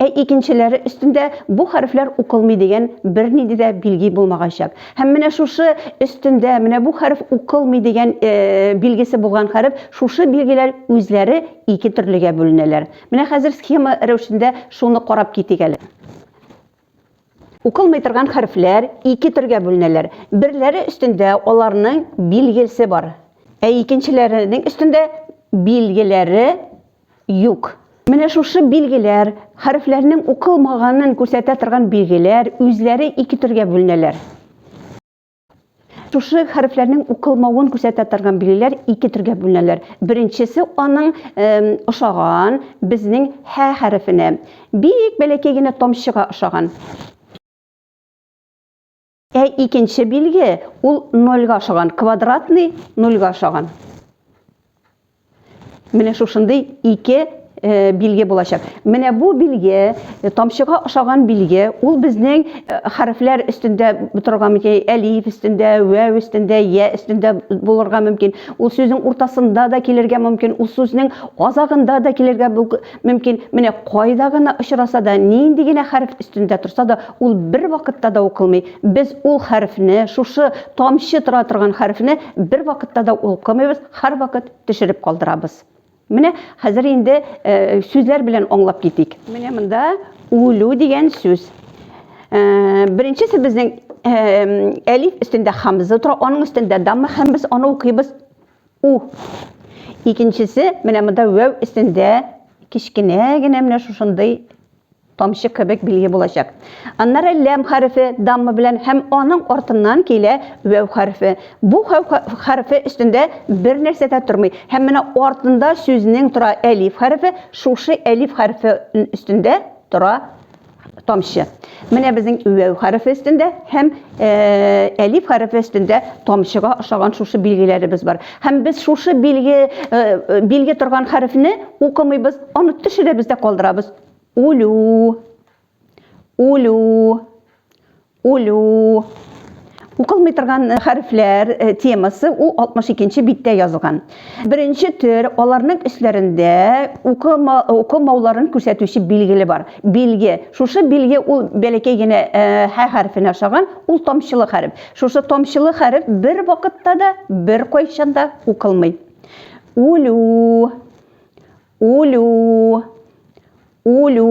Ә икенчеләре өстендә бу хәрефләр укылмый дигән бернинди дә билги булмаганчак. Һәм менә шушы өстендә менә бу хәреф укылмый дигән билгесе булган хәреф, шушы билгеләр үзләре ике төрлегә бүленәләр. Менә хәзер схема рәвешендә шуны карап китик әле. Укылмый торган хәрефләр ике төргә бүленәләр. Берләре өстендә аларның билгелсе бар, ә икенчеләренең өстендә билгеләре юк. Менә шушы билгеләр, хәрефләрнең укылмаганын күрсәтә торган билгеләр, үзләре ике төргә бүленәләр. Шушы хәрефләрнең укылмавын күрсәтә торган билгеләр ике төргә бүленәләр. Беренчесе аның ошаган безнең һә хәрефенә. Бик бәләкәй генә тамчыга ошаган. Ә икенче билге ул нольга ошаган, квадратный нольга ошаган. Менә шушындый ике э, билге булачак. Менә бу билге, э, тамчыга ошаган билге, ул безнең э, хәрефләр өстендә торган мөмкин, әлиф өстендә, вәв өстендә, я өстендә булырга мөмкин. Ул сүзнең уртасында да килергә мөмкин, ул сүзнең азагында да килергә мөмкин, менә кайда гына очраса да, нинди генә хәреф өстендә торса да, ул бер вакытта да укылмый. Без ул хәрефне, шушы тамчы тора торган хәрефне бер вакытта да укымыйбыз, һәрвакыт төшереп калдырабыз. Менә хәзер инде э, сүзләр белән аңлап китик. Менә монда үлү дигән сүз. Э, беренчесе безнең э, әлиф өстендә хамза тора, аның өстендә дамма һәм без аны укыйбыз У. Икенчесе менә монда вәү өстендә кечкенә генә менә шушындый тамчы кебек билге булачак. Аннары ләм хәрефе дамма белән һәм аның артыннан килә вәү хәрефе. Бу вәү хәрефе өстендә бер нәрсә дә тормый. Һәм менә артында сүзнең тора әлиф хәрефе, шушы әлиф хәрефе өстендә тора тамчы. Менә безнең үәү хәрефе өстендә һәм әлиф хәрефе өстендә тамчыга ошаган шушы билгеләребез бар. Һәм без шушы билге билге торган хәрефне укымыйбыз, аны төшерәбез дә калдырабыз. Улю. Улю. Үлү. Укылмый торган хәрефләр темасы ул 62-нче биттә язылган. Беренче төр, аларның өсләрендә укыма, укымауларын күрсәтүче билгеле бар. Билге. Шушы билге ул бәләкәй генә һә хәрефенә ошаган, ул тамчылы хәреф. Шушы тамчылы хәреф бер вакытта да, бер кайчан да укылмый. Үлү. Үлү. Үлү.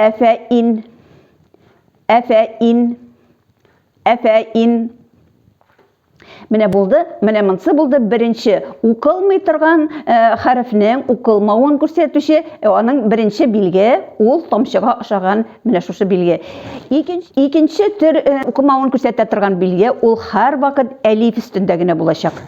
Әфәин. Әфәин. Әфәин. Менә булды, менә монсы булды беренче укылмый торган э, хәрефнең укылмавын күрсәтүче э, аның беренче билге ул тамчыга ошаган менә шушы билге. Икенче, икенче төр э, укымавын күрсәтә торган билге ул һәрвакыт әлиф өстендә генә булачак.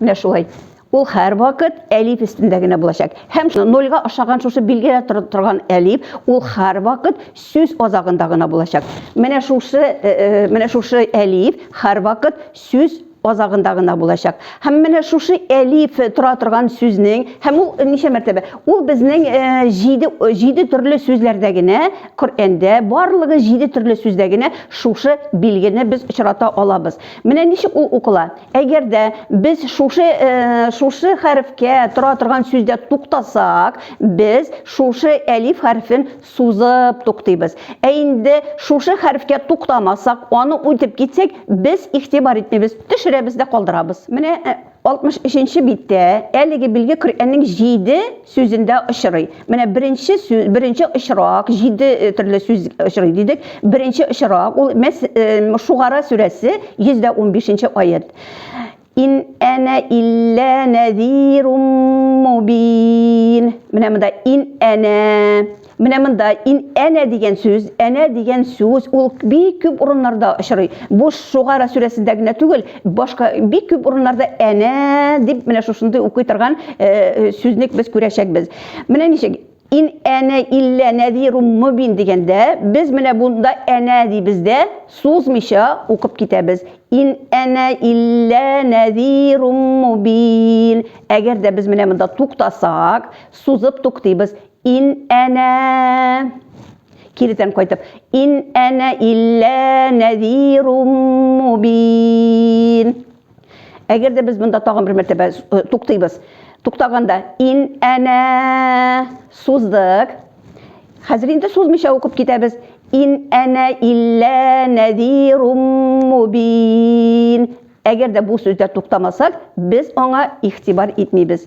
Менә шулай. Ул һәрвакыт әлиф өстендә генә булачак. Һәм нольгә ашаган шушы билгелә торган әлиф, ул һәрвакыт сүз азагында гына булачак. Менә шушы, э, э, менә шушы әлиф һәрвакыт сүз азагында гына булачак. Һәм менә шушы әлиф тора торган сүзнең, һәм ул ничә мәртәбә? Ул безнең 7 э, 7 төрле сүзләрдә генә, Коръәндә барлыгы 7 төрле сүздә генә шушы билгене без очрата алабыз. Менә ничек ул укыла? Әгәр дә без шушы шушы хәрефкә тора торган сүздә туктасак, без шушы әлиф хәрефен сузып туктыйбыз. Ә инде шушы хәрефкә туктамасак, аны үтеп китсәк, без игътибар итмибез, төшерәбез дә калдырабыз. Менә 63 нче биттә әлеге билге Коръәннең җиде сүзендә очрый. Менә беренче сүз, беренче очрак, җиде э, төрле сүз очрый дидек. Беренче очрак ул мәс, э, Шугара сүрәсе 115 аят. Ин әнә иллә нәзирум мубин. Менә монда ин әнә Менә монда ин әнә дигән сүз, әнә дигән сүз ул бик күп урыннарда очрый. Бу Шугара сүрәсендә генә түгел, башка бик күп урыннарда әнә дип менә шушындый укый торган сүзник без күрәчәкбез. Менә ничек ин әнә иллә нәзирум мубин дигәндә без менә бунда әнә дибез дә сузмыйча укып китәбез. Ин әнә иллә нәзирум мубин. Әгәр дә без менә монда туктасак, сузып туктыйбыз. Ин әнә кирдән кайтып ин әнә илля нәзирум мубин әгәр дә без монда тагын бер мәртәбә э, туктыйбыз туктаганда ин әнә суздык хәзер инде сузмыйча укып китәбез ин әнә илля нәзирум мубин әгәр дә бу сүздә туктамасак без аңа игътибар итмибез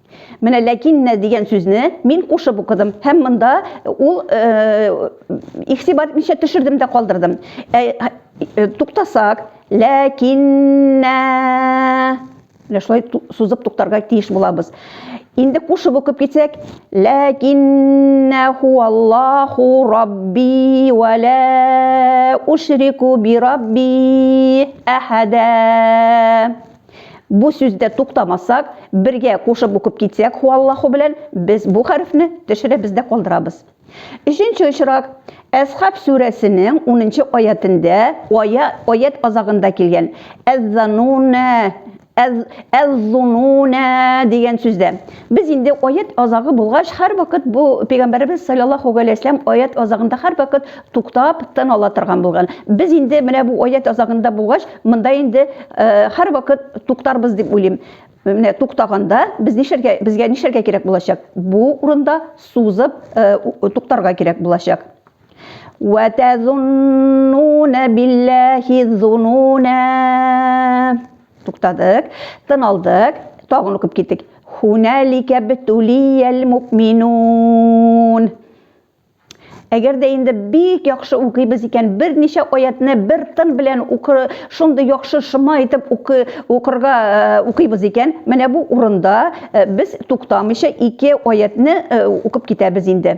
Менә ләкиннә дигән сүзне мин кушып укыдым һәм монда ул игътибар итмичә төшердем дә калдырдым. Туктасак, ләкиннә менә шулай сузып туктарга тиеш булабыз. Инде кушып укып китсәк, ләкиннә хуаллаху рабби ва ла ушрику би рабби әхәдә. Бу сүздә туктамасак, бергә кушып укып китсәк һуаллаһу белән, без бу хәрефне төшерәбез дә калдырабыз. Өченче очрак, Әсхаб сүрәсенең унынчы аятендә, ая, аять азагында килгән, әз-занунә, әз, әз-зунунә дигән сүздә. Без инде аять азагы булгач, һәрвакыт бу пәйгамбәребез саллаллаһу галәйһи вәсәләм аять азагында һәрвакыт туктап, тын ала торган булган. Без инде менә бу аять азагында булгач, монда инде һәрвакыт туктарбыз дип уйлыйм. Менә туктаганда без нишәргә безгә нишәргә кирәк булачак? Бу урында сузып туктарга кирәк булачак. Ва тазуннуна биллаһи зунуна. Туктадык, тын алдык, тагын укып киттек. Хуналика битулиял мукминун. Әгәр дә инде бик яхшы укыйбыз икән, берничә аятны бер тын белән укы, шундый яхшы шома итеп укы, укырга э, укыйбыз икән, менә бу урында э, без туктамыйча ике аятны э, укып китәбез инде.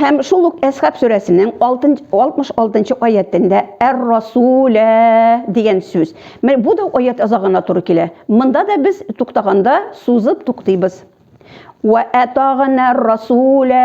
Һәм шул ук Әсхаб сүрәсенең 66-нчы аятендә әр-расулә дигән сүз. Менә бу да аят азагына туры килә. Монда да без туктаганда сузып туктыйбыз. Ва атагна расулә.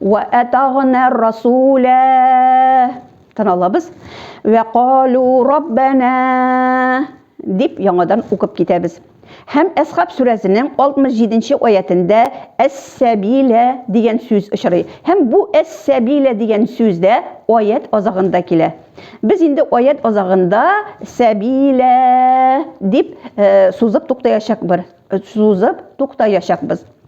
Вә атагна расуля. Тын алабыз. Вә калу раббана. Дип яңадан укып китәбез. Һәм Әсхаб сүрәсенең 67-нче аятендә әс-сәбилә дигән сүз очрый. Һәм бу әс-сәбилә дигән сүз дә аят азагында килә. Без инде аят азагында сәбилә дип э, сузып туктаячакбыз. Сузып туктаячакбыз.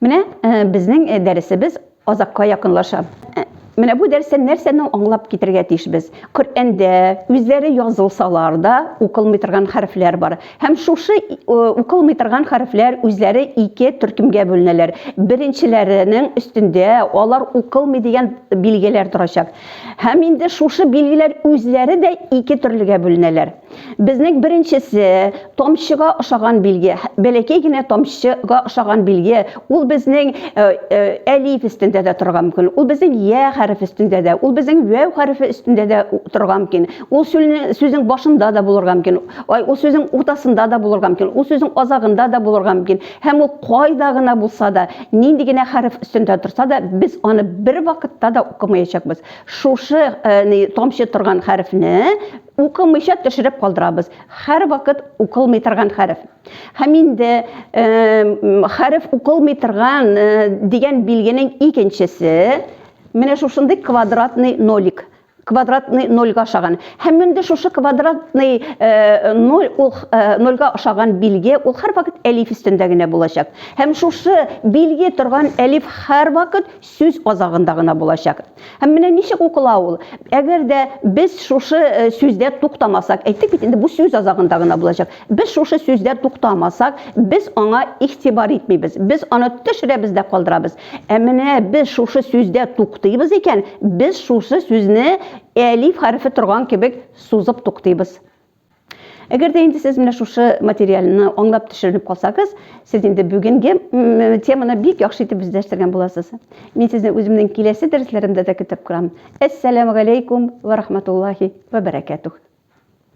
Менә э, безнең э, дәресебез азакка якынлаша. Э, менә бу дәрестән нәрсәне аңлап китергә тиешбез? Коръәндә үзләре язылсалар да укылмый торган хәрефләр бар. Һәм шушы укылмый торган хәрефләр үзләре ике төркемгә бүленәләр. Беренчеләренең өстендә алар укылмый дигән билгеләр торачак. Һәм инде шушы билгеләр үзләре дә ике төрлегә бүленәләр. Безнең беренчесе, тамчыга ошаган билге, бәләкәй генә тамчыга ошаган билге, ул безнең э, э, әлиф өстендә дә торырга мөмкин, ул безнең я хәреф өстендә дә, ул безнең вәү хәрефе өстендә дә торырга мөмкин, ул сүзнең башында да булырга мөмкин, ул сүзнең уртасында да булырга мөмкин, ул сүзнең азагында да булырга мөмкин. Һәм ул кайда гына булса да, нинди генә хәреф өстендә торса да, без аны бер вакытта да укымаячакбыз. Шушы э, тамчы торган хәрефне Укымыйча төшереп калдырабыз. Хәр вакыт укылмый торган хәреф. Һәм инде хәреф укылмый торган дигән билгенең икенчесе менә шушындый квадратный нолик квадратный нольга ошаган һәм менде шушы квадратный э, ноль ул э, нольга ошаган билге ул һәрвакыт әлиф өстендә генә булачак һәм шушы билге торган әлиф һәрвакыт сүз азагында гына булачак Һәм менә ничек укыла ул? Әгәр дә без шушы э, сүздә туктамасак, әйттек бит инде бу сүз азагында гына булачак. Без шушы сүздә туктамасак, без аңа игътибар итмибез. Без аны төшерәбез дә калдырабыз. Ә менә без шушы сүздә туктыйбыз икән, без шушы сүзне әлиф хәрефе торган кебек сузып туктыйбыз. Әгәр дә инде сез менә шушы материалны аңлап төшеренеп калсагыз, сез инде бүгенге теманы бик яхшы итеп үзләштергән буласыз. Мин сезне үземнең киләсе дәресләремдә дә көтеп торам. Әссәламу алейкум ва рахматуллахи ва баракатух.